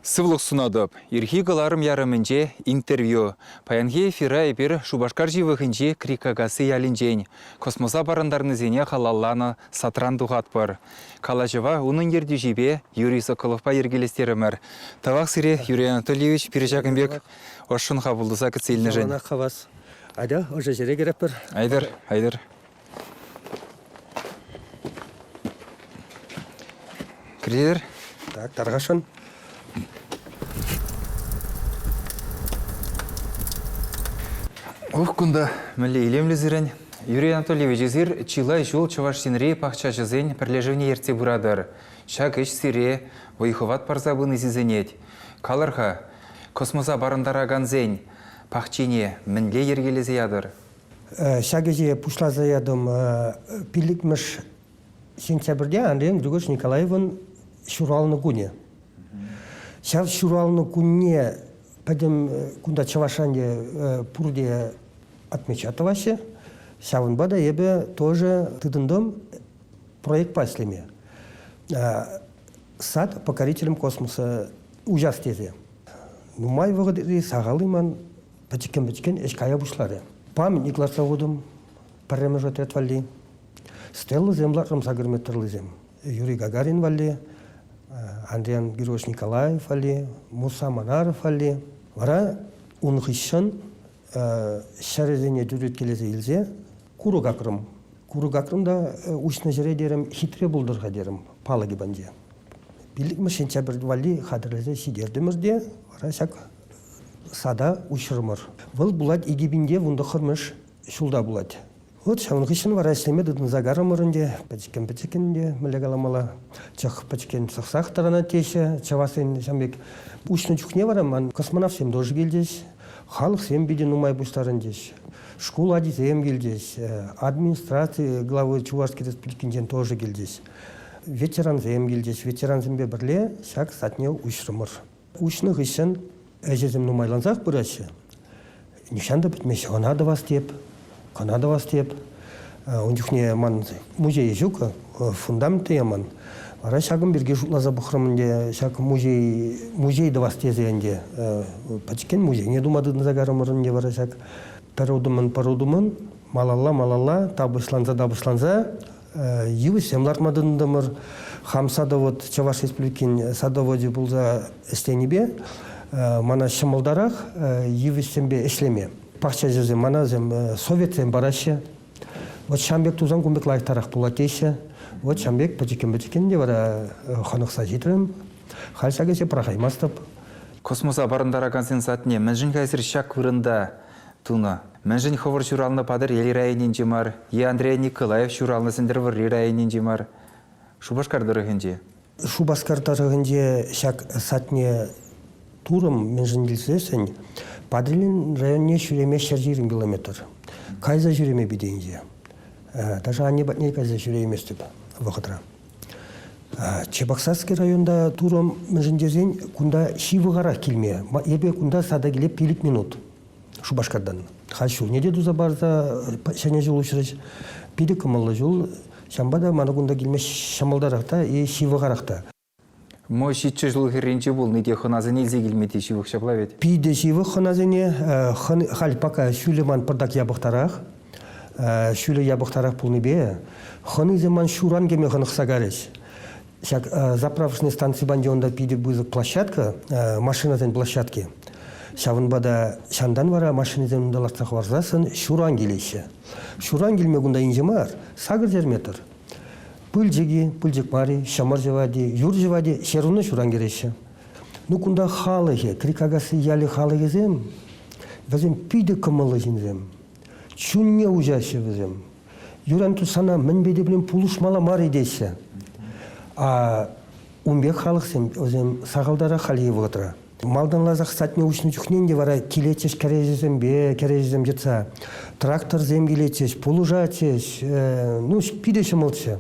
Сывлӑх сунатӑп. Ирхи кӑларӑм ярӑмӗнче интервью. Паянхи эфира эпир Шупашкар ҫывӑхӗнчи Крикакасси ялӗнчен космоса парӑнтарнисене халалланӑ сатран тухатпӑр. Калаҫӑва унӑн ертӳҫипе Юрий Соколовпа йӗркелестерӗмӗр. Тавах сире, Юрий Анатольевич, пирӗн ҫакӑн пек ӑшшӑн хапӑлтаса кӗтсе илнӗшӗн. Савӑнах хавас. Атя, ӑшӑ ҫӗре кӗретпӗр. Айтӑр, айтӑр. Кредитер? Так, тархасшӑн. Ух кунта мӗнле илемлӗ сирӗн. Юрий Анатольевич, эсир чылай ҫул Чӑваш Енри пахчаҫӑсен пӗрлешӗвне ертсе пыратӑр. Ҫак ӗҫ сире вӑй-хӑват парса пыни сисӗнет. Калӑр-ха, космоса парӑнтаракансен пахчине мӗнле йӗркелесе ятӑр? Ҫак ӗҫе пуҫласа ятӑм пиллӗкмӗш сентябрьте Андрей Григорьевич Николаевӑн ҫуралнӑ кунӗ. Ҫав ҫуралнӑ кунне пӗтӗм кунта Чӑвашран пурте отмечать тӑваҫҫӗ. Ҫавӑнпа та эпӗ тоже тытӑнтӑм проектпа ӗҫлеме. Сад покорителям космоса уҫас тесе. Нумай вӑхӑт сахал-и ман пӗчӗккӗн-пӗчӗккӗн ӗҫ кая пуҫларӗ. Памятник лартса хутӑм, пӗрремӗш отряд валли. Стеллӑсем лартса кӗрме тӑрлисем. Юрий Гагарин валли, Андриян Григорьевич Николаев валли, Муса Манаров валли. Вара ун хыҫҫӑн ҫӗрӗсене тӳреткелесе илсе курӑк акрӑм. Курӑк акрӑм та уҫнӑ ҫӗре терӗм, хитре пултӑр-ха терӗм палӑкӗ панче. Пиллӗкмӗш сентябрь валли хатӗрлесе ҫитертӗмӗр те вара ҫак сада уҫрӑмӑр. Вӑл пулать икӗ пинте вун тӑххӑрмӗш ҫулта пулать. Вот ҫавӑн хыҫҫӑн вара ӗҫлеме тытӑнса карӑмӑр ӗнтӗ. Пӗчӗккӗн-пӗчӗккӗн ӗнтӗ мӗнле каламалла. Чӑх пӗчӗккӗн сӑхсах тӑранать теҫҫӗ чӑвашсен ҫав пек. Уҫнӑ чухне вара ман космонавтсем тоже килчӗҫ, халӑхсем питӗ нумай пуҫтарӑнчӗҫ. Шкул ачисем килчӗҫ, администраци главы Чувашский Республикинчен тоже килчӗҫ. Ветерансем килчӗҫ. Ветерансемпе пӗрле ҫак садне уҫрӑмӑр. Уҫнӑ хыҫҫӑн ӗҫӗсем нумайлансах пыраҫҫӗ. Нихҫан та пӗтмеҫҫӗ. Ӑна тӑвас теп, кӑна тӑвас теп. Ун чухне ман музейе ҫук, фундамент тӑяман. Вара ҫакӑн пирки шутласа пӑхрӑм ӗнтӗ, ҫак музей, музей тӑвас тесе ӗнтӗ. Пӗчӗккӗн музейне тума тытӑнса карӑмӑр ӗнтӗ вара ҫак. Пӗр утӑмӑн, пӗр утӑмӑн малалла-малалла, тапӑҫланса-тапӑҫланса йывӑҫсем лартма тытӑнтӑмӑр. Хам садовод, Чӑваш Республикин садоводе пулса ӗҫленипе мана ҫӑмӑлтарах йывӑҫсемпе ӗҫлеме. Пахчаҫӑсем, манасем советсем параҫҫӗ. Вот ҫам пек тусан кун пек лайӑхтарах пулать теҫҫӗ. Вот ҫам пек пӗчӗккӗн-пӗчӗккӗн те вара хӑнӑхса ҫитрӗм. Халь ҫак ӗҫе пӑрахаймастӑп. Космоса парӑнтаракансен садне мӗншӗн хайсӑр ҫак вырӑнта тунӑ. Мӗншӗн хӑвӑр ҫуралнӑ Патӑрьел районӗнче мар е Андрей Николаев ҫуралнӑ Сӗнтӗрвӑрри районӗнче мар, Шупашкар тӑрӑхӗнче? Шупашкар тӑрӑхӗнче ҫак садне турӑм, мӗншӗн тесен Патӑрьел районне ҫӳреме ҫӗр ҫирӗм километр. Кайса ҫӳреме питӗ инҫе. Даже анне патне кайса ҫӳрейместӗп вӑхӑтра. Чебоксарский районта турӑм, мӗншӗн тесен кунта ҫывӑхарах килме. Эпӗ кунта сада киле пилӗк минут. Шупашкартан. Хай ҫулне те туса парса ҫӗнӗ ҫул уҫрӗҫ. Питӗ кӑмӑллӑ ҫул. Ҫавӑнпа та мана кунта килме ҫӑмӑлтарах та, и ҫывӑхарах та. Мо ҫиччӗ ҫул хӗрринче пулни те хӑнасене илсе килме те ҫывӑх ҫапла вӗт? Питӗ ҫывӑх хӑнасене. Халь пока ҫулӗ ман пӑртак япӑхтарах. Ҫулӗ япӑхтарах пулнипе хӑнисем ман ҫуран кӗме хӑнӑхса карӗҫ. Ҫак заправочный станци панди унта питӗ пысӑк площадка, машинасен площадки. Ҫавӑнпа та ҫантан вара машинӑсем унта лартса хӑварсассӑн ҫуран килеҫҫӗ. Ҫуран килме кунта инҫе мар, сакӑр метр. Пылчӑки, пылчӑк мари, ҫӑмӑр ҫӑвати, юр ҫӑвати, ҫеруна ҫуран кӗреҫҫӗ. Ну кунта халӑхӗ, Крикакасси ялӗ халӑхӗсем, вӗсем питӗ кӑмӑллӑ ҫынсем. Чунне уҫаҫҫӗ вӗсем. юран тусана мӗнпе те пулин пулӑшмалла мар-и теҫҫӗ. А ун пек халӑхсем вӗсем сахалтарах хальхи вӑхӑтра. Малтанласах садне уҫнӑ чухнен те вара килетчӗҫ кӗреҫесемпе кӗреҫесем йӑтса. Тракторсем килетчӗҫ, пулӑшатчӗҫ. Э, ну, питӗ ҫӑмӑлччӗ.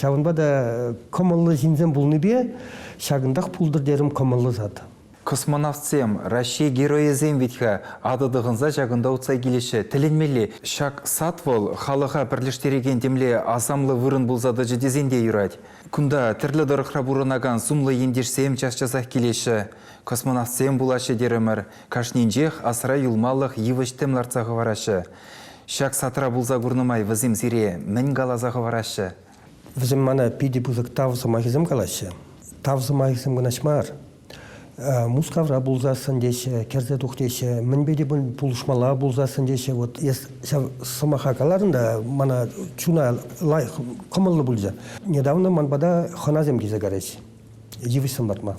Ҫавӑнпа та кӑмӑллӑ ҫынсем пулнипе ҫакӑнтах пултӑр терӗм кӑмӑллӑ сад. Космонавтсем, Раҫҫей Геройӗсем вӗт-ха, атӑ тӑхӑнса ҫакӑнта утса килеҫҫӗ, тӗлӗнмелле. Ҫак сад вӑл халӑха пӗрлештерекен темле асамлӑ вырӑн пулса тӑчӗ тесен те юрать. Кунта тӗрлӗ тӑрӑхра пурӑнакан сумлӑ ентешсем час-часах килеҫҫӗ. Космонавтсем пулаҫҫӗ терӗмӗр, кашнинчех асра юлмалӑх йывӑҫ-тӗм лартса хӑвараҫҫӗ. Ҫак садра пулса курнӑ май вӗсем сире мӗн каласа хӑвараҫҫӗ? Вӗсем мана питӗ пысӑк тав сӑмахӗсем калаҫҫӗ. Тав сӑмахӗсем кӑнаҫ мар. Мускавра пулсассӑн теҫҫӗ, кӗрсе тух теҫҫӗ, мӗнпе те пулӑшмалла пулсассӑн теҫҫӗ. Вот эс ҫав сӑмаха калатӑн та мана чуна лайӑх кӑмӑллӑ пулчӗ. Недавно ман пата хӑнасем килсе кайрӗҫ. йывӑҫсем лартма.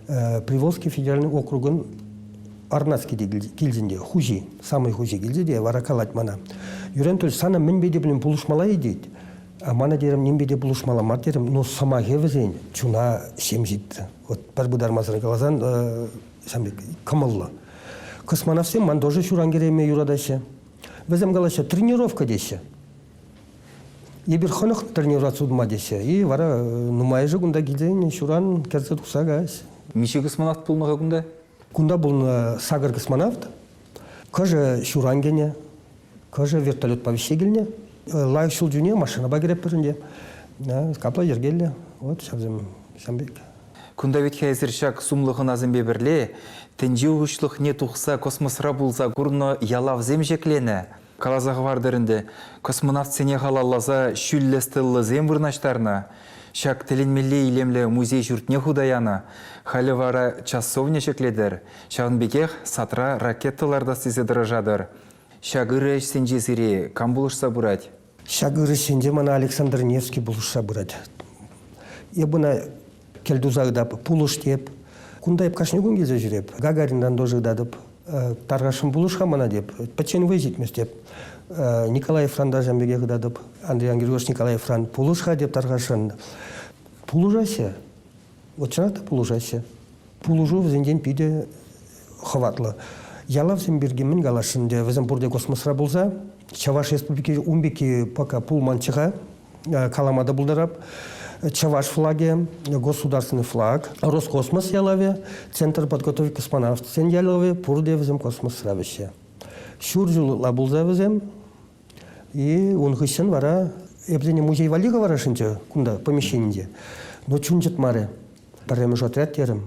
Приволжский федеральный округӑн Арнацкий килтӗнте хуҫи, самый хуҫи килте те вара калать мана, Юрен Анатольевич, сана мӗнпе те пулин пулӑшмалла-и тет. Мана терем, нимпе те пулӑшмалла мар терем, но сӑмахӗ вӗсен чуна ҫемҫетті. Вот пӗр пытармасӑр каласан, ҫам кӑмӑллӑ. Космонавтсем ман тоже ҫуран кӗреме юратаҫҫӗ. Вӗсем калаҫҫӗ, тренировка теҫҫӗ. Эпир хӑлӑхлӑ тренера сутма теҫҫӗ-и, вара нумайӑшӗ кунта килсен ҫуран кӗрсе тухса каҫ. Миҫе космонавт пулнӑ-ха кунта? Кунта пулнӑ сакӑр космонавт. Кӑшӗ ҫуран кӗнӗ, кӑшӗ вертолетпа вӗҫсе килнӗ. Лайӑх ҫул чухне машинӑпа кӗретпӗр ӗнтӗ. Капла йӗркеллӗ. Вот ҫавсем ҫam пек. Кунта вӗт-ха эсир ҫак сумлӑ хӑнасемпе пӗрле тӗнче уҫлӑхне тухса космосра пулса курнӑ ялавсем ҫӗкленӗ. Каласа хӑвартӑр ӗнтӗ, космонавтсене халалласа ҫӳллӗ стеллӑсем вырнаҫтарнӑ. Ҫак тӗлӗнмелле илемлӗ музей ҫуртне хута янӑ. Халӗ вара часовня ҫӗклетӗр, ҫавӑн пекех садра ракета лартас тесе тӑрӑшатӑр. Ҫак ырӑ ӗҫсенче сире кам пулӑшса пырать? Ҫак ырӑ ӗҫсенче мана Александр Невский пулӑшса пырать. Эп ӑна кӗлтуса ытап, пулӑштеп. Кунта эп кашни кун килсе ҫӳреп. Гагаринран тоже ытатӑп. Тархасшӑн пулӑш-ха мана теп. Пӗччен вӑй ҫитмест теп. Николаевран та ҫам пекех ытатӑп. Андрей Ангелович Николаевран пулӑш-ха теп Тархасшӑн. Пулӑшаҫҫӗ. Вот чӑнах та пулӑшаҫҫӗ. Пулӑшу вӗсенчен питӗ хӑватлӑ. Ялавсем пирки мӗн каласшӑн ӗнтӗ, вӗсем пурте космосра пулса, Чӑваш Республики ун пекки пока пулманччӗ-ха, калама та пултарап. Чӑваш флагӗ, государственный флаг, Роскосмос ялавӗ, Центр подготовки космонавтсен ялавӗ, пурте вӗсем космосра вӗҫҫе. Ҫур ҫулла пулса вӗсем, и ун хыҫҫӑн вара эпсене музей валли хӑварасшӑнччӗ кунта помещенинче, но чун чӑтмарӗ. Пӗрремӗш отряд терӗм.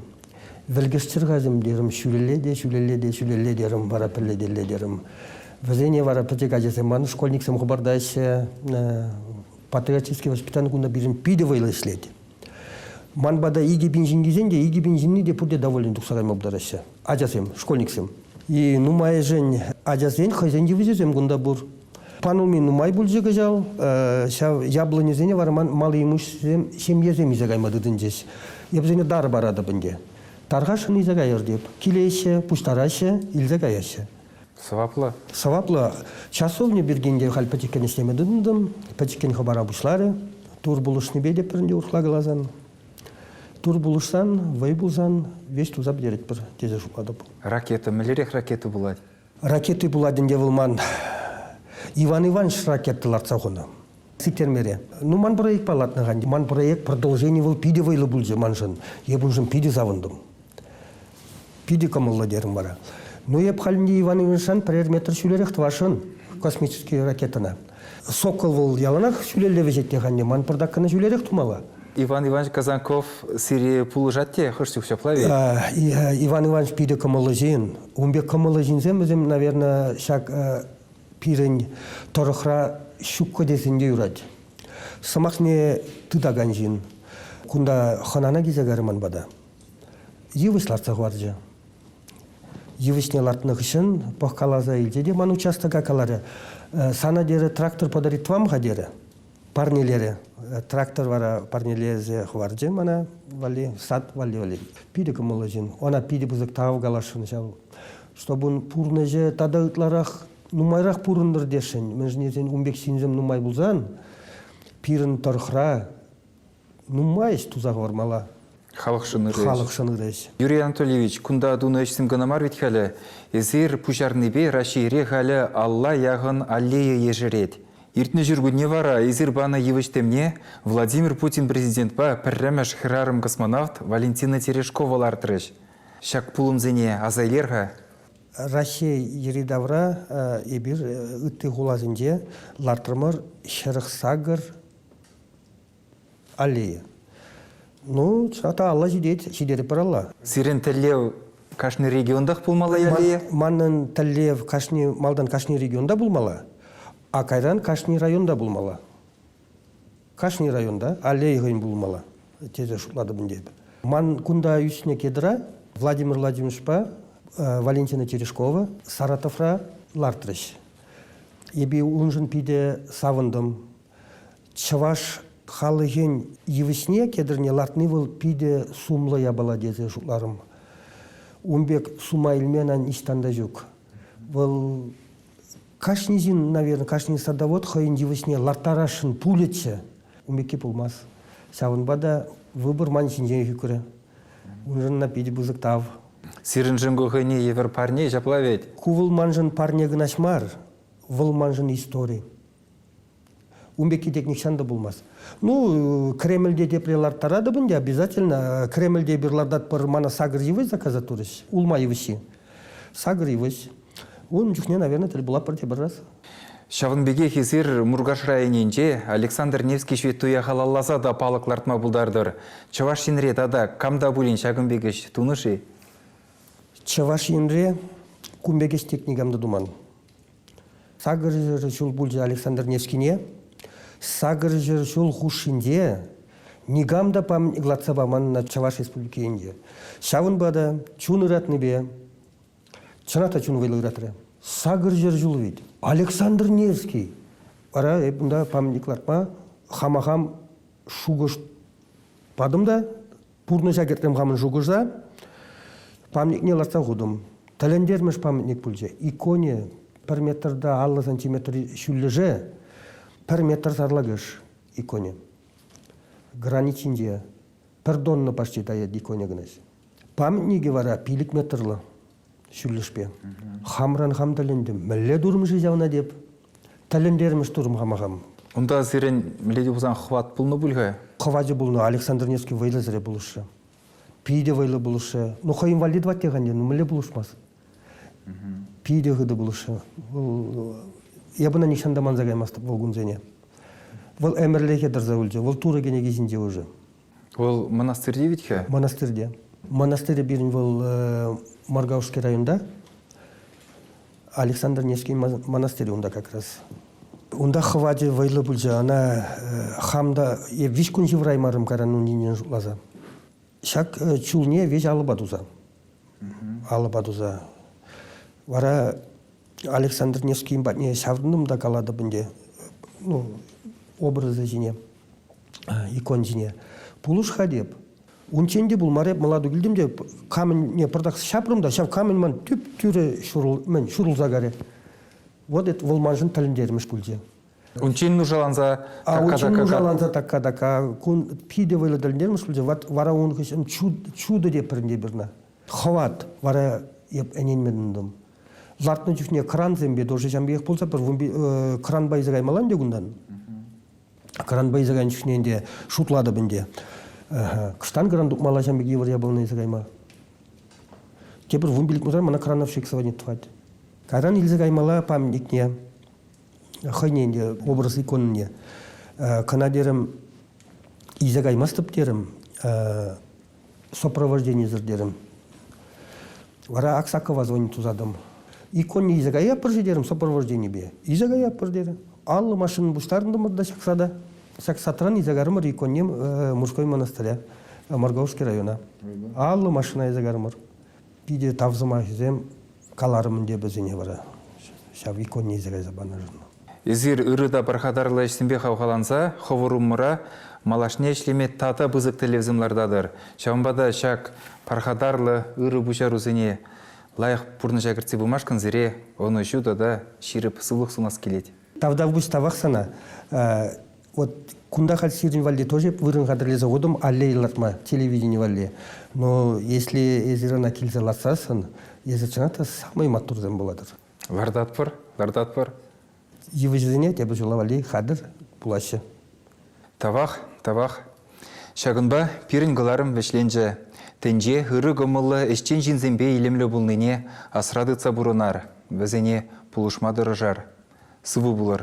Вӗлкӗштерхасем терӗм, ҫӳлелле те, ҫӳлелле те, ҫӳлелле терӗм, вара пӗллетелле терӗм. Вӗсене вара пӗчӗк ачасем, ман школьниксем хӑпартаҫҫӗ. Патриотический воспитани кунта пирӗн питӗ вӑйлӑ ӗҫлет. Ман пата икӗ пин ҫын килсен те икӗ пин ҫынни те пурте довольнӑй тухса кайма пултараҫҫӗ. Ачасем, школьниксем. И нумайӑшӗн ачасен хӑйсен йывӑҫӗсем кунта пур. Пануми нумай пулчӗ кӑҫал. Ҫав яблоньӑсене вара ман малли имуҫсем ҫемьесем илсе кайма тытӑнчӗҫ. Эп вӗсене тар паратӑп ӗнтӗ. Тархасшӑн илсе каяр теп. Килеҫҫӗ, пуҫтараҫҫӗ, илсе каяҫҫӗ. Сӑваплӑ? Сӑваплӑ. Часовня пирки те халь пӗчӗккӗн ӗҫлеме тытӑнтӑм. Пӗчӗккӗн хӑпара пуҫларӗ. Тур пулӑшнипе те пӗринче урӑхла каласан. Тур пулӑшсан, вӑй пулсан, веҫ туса пӗтеретпӗр тесе шутлатӑп. Ракета мӗнлерех ракета пулать? Ракети пулать ӗнтӗ вӑл ман. Иван Иванович ракета лартса хунӑ. Сиктермере. Ну, ман проект паллатнӑ хан. Ман проект продолжение вӑл питӗ вӑйлӑ пулчӗ маншӑн. Эп уншӑн питӗ савӑнтӑм. Питӗ кӑмӑллӑ терӗм вара. Ну, эп халь Иван Ивановичран пӗрер метр ҫӳлерех тӑвасшӑн космический ракетӑна. Сокол вӑл яланах ҫӳлелле вӗҫет анне. Ман пӑртак кӑна ҫӳлерех тумалла. Иван Иванович Казанков сире пулӑшать те хӑш чух ҫапла-и? Иван Иванович питӗ кӑмӑллӑ ҫын. Ун пек кӑмӑллӑ ҫынсем вӗсем, наверное, ҫак пирӗн тӑрӑхра ҫуккӑ тесен те юрать. Сӑмахне тытакан ҫын. Кунта хӑнана килсе кайрӗ ман пата. Йывӑҫ лартса хӑварчӗ. Йывӑҫне лартнӑ хыҫҫӑн пӑхкаласа илчӗ те ман участока каларӗ, «Сана терӗ трактор подарить вам-ха?» терӗ. Парнелерӗ. Трактор вара парнелесе хӑварчӗ мана валли, сад валли валли. Питӗ кӑмӑллӑ ҫын. Ана питӗ пысӑк тав каласшӑн ҫав, чтобы ун пурнӑҫӗ тата ытларах нумайрах пурӑнтӑр тесшӗн. Мӗншӗн тесен ун пек ҫынсем нумай пулсан пирӗн тӑрӑхра Нумай ӗҫ туса хӑвармалла. Халӑхшӑн ырӑ ӗҫ. Халӑхшӑн ырӑ ӗҫ. Юрий Анатольевич, кунта тунӑ ӗҫсем кӑна мар вӗт халӗ. Эсир пуҫарнипе Раҫҫейре халӗ алла яхӑн аллея ешерет. Иртнӗ ҫуркунне вара эсир панӑ йывӑҫ темне Владимир Путин президентпа пӗрремӗш хӗрарӑм-космонавт Валентина Терешкова лартрӗҫ. Ҫак пулӑмсене аса илер-ха. Раҫҫей йӗри-тавра эпир ытти хуласенче лартрӑмӑр, хӗрӗх сакӑр Аллея. Ну, чата алла ҫитет, ҫитетӗп пыралла. Сирӗн тӗллев кашни регионтах пулмалла, Аллея? Манӑн тӗллев кашни малтан кашни регионта пулмалла, а кайран кашни районта пулмалла. Кашни районта аллея хӑйӗн пулмалла, тесе шутлатӑп ӗнтӗ эпӗ. Ман кунта ӳснӗ кедра Владимир Владимировичпа Валентина Терешкова Саратовра лартрӗҫ. Эпе уншӑн питӗ савӑнтӑм. чӑваш халӑхӗн йывӑҫне кӗтӗрне лартни вӑл питӗ сумлӑ япала тесе шутларӑм. Ун пек сума илме ниҫтан та ҫук. Вӑл кашни ҫын, наверное, кашни садовод хӑйӗн йывӑҫне ларттарасшӑн пулӗччӗ. Ун пекки пулмасть. Ҫавӑнпа та выбор ман ҫинченех ӳкрӗ. Уншӑн питӗ пысӑк тав. Сирӗншӗн ку хӑйне евӗр парне ҫапла вӗт? Ку вӑл маншӑн парне кӑнаҫ мар, вӑл маншӑн истори. Ун пекки тек нихҫан та пулмасть. Ну, Кремльте тепре ларттаратӑп ӗнтӗ обязательно. Кремльте эпир лартатпӑр, мана сакӑр йывӑҫ заказать турӗҫ, улма йывӑҫҫи. Сакӑр йывӑҫ. Ун чухне, наверное, тӗл пулатпӑр тепӗр раз. Ҫавӑн пекех эсир Муркаш районӗнче Александр Невский ҫветтуя халалласа та палӑк лартма пултартӑр. Чӑваш Енре тата кам та пулин ҫакӑн пек ӗҫ тунӑ-ши? Чӑваш Енре кун пек ӗҫ тек никам та туман. Сакӑрҫӗр ҫул пулчӗ Александр Невскине. Сакӑрҫӗр ҫул хушшинче никам та лартса паманна Чӑваш Республики енче. Ҫавӑнпа та чун ыратнипе, чӑнах та чун вӑйлӑ ыратрӗ. Сакӑрҫӗр ҫул вит. Александр Невский вара эп унта памятник лартма хама хам шухӑш патӑм та Пурнӑҫа кӗртрӗм хамӑн шухӑша. Памятникне лартса хутӑм. Тӗлӗнтермӗш памятник пулчӗ. Икони пӗр метрта аллӑ сантиметр ҫӳллӗше пӗр метр сарлакӑш икони. Гранит ҫинче пӗр тонна почти таять иконя кӑначчӗ. Памятникӗ вара пилӗк метрлӑ. ҫӳллӗшпе. Хамран хам тӗлӗнтӗм. Мӗнле турмӑш-и ҫавна теп? Тӗлӗнтермӗш турм хама хам. Унта сирӗн милети пулсан хӑват пулнӑ пуль-ха? Хӑвачӗ пулнӑ. Александр Невский вӑйлӑсӑрӗ пулӑшрӗ. Питӗ вӑйлӑ пулӑшрӗ. Ну, хӑйӗн валли тӑвать-тек ӗнтӗ. Ну, мӗнле пулӑшмасть? Питӗ хытӑ пулӑшрӗ. Вӑл эп ӑна нихҫан та манса каймастӑп вӑл кунсене. Вӑл ӗмӗрлӗхе тӑрса юлчӗ. Вӑл Турӑ кӗнеки ҫинче уже. Вӑл мӑнастырти вӗт-хӗ? Мӑнастырте. Мӑнастырӗ пирӗн вӑл э, Моргаушский районта. Александр Невский монастырь унта как раз. Унта хӑвачӗ вӑйлӑ пулчӗ. Ана э, хам та э, виҫ кун ҫывӑраймарӑм каран унинен шутласа. Ҫак чулне веҫ алӑпа туса. Алӑпа туса. Вара Александр Невскийӗн патне ҫаврӑнтӑм та калатӑп ӗнтӗ ну, образа ҫине, икон ҫине. Пулӑш-ха теп. Унччен те пулмар эп мӑлату килтӗм те камӗнне пӑртак ҫапрӑм та ҫав камӗн ман тӳп-тӳрӗ ҫурӑл, мӗн, ҫурӑлса карӗ. Вот это вӑл маншӑн тӗлӗнтермӗш пулчӗ. Унччен нушаланса такка-такка. нушаланса такка-такка. Кун питӗ вӑйлӑ тӗлӗнтермӗш пулчӗ. Вара ун хыҫҫӑн чудо те пӗринте пирна. Хӑват. Вара эп ӗненмедӗм тӑм. Лартнӑ чухне крансемпе тоже ҫам пекех пулса пӗр кранпа илсе каймалла ӗнтӗ кунтан. Кранпа илсе кайнӑ чухне ӗнтӗ шутлатӑп ӗнтӗ. Кӑштан кран тупмалла ҫам пек йывӑр япалана илсе кайма. Тепӗр вун пилӗк кунран мана крановщик сводник тӑвать. Кайран илсе каймалла памятникне, хӑйне ӗнтӗ образ иконне. Кӑна терӗм, илсе каймастӑп терӗм. сопровожденисӗр терӗм. Вара Аксакова звонить тусатӑм. Иконне илсе каятпӑр-ши терӗм сопровожденипе. Илсе каятпӑр терӗм. Аллӑ машина пуҫтарӑнтӑмӑр та ҫакса та. Ҫак сатран илсе карӑмӑр иконне Мужской монастыря, Морговский района. Аллӑ машина илсе карӑмӑр. Питӗ тав сӑмахӗсем каларӑмӑн тепӗрсене вара ҫав иконне илсе кайса панӑшӑн. Эсир ырӑ та пархатарлӑ ӗҫсемпе хавхаланса хӑвӑр умӑра малашне ӗҫлеме тата пысӑк тӗллевсем лартатӑр. Ҫавӑнпа та ҫак пархатарлӑ ырӑ пуҫарусене лайӑх пурнӑҫа кӗртсе пымашкӑн сире ӑнӑҫу тата ҫирӗп сывлӑх сунас килет. Тавтапуҫ тавах сана, Вот кунта халь сирӗн валли тоже вырӑн хатӗрлесе хутӑм аллея лартма, телевидени валли. Но если эсир ӑна килсе лартсассӑн, эсир чӑнах та самый маттурсем пулатӑр. Лартатпӑр, лартатпӑр. Йывӑҫсене тепӗр ҫула валли хатӗр пулаҫҫӗ. Тавах, тавах. Ҫакӑнпа пирӗн кӑларӑм вӗҫленчӗ. Тӗнче ырӑ кӑмӑллӑ ӗҫчен ҫынсемпе илемлӗ пулнине асра тытса пурӑнар, вӗсене пулӑшма тӑрӑшар. Сывӑ пулӑр.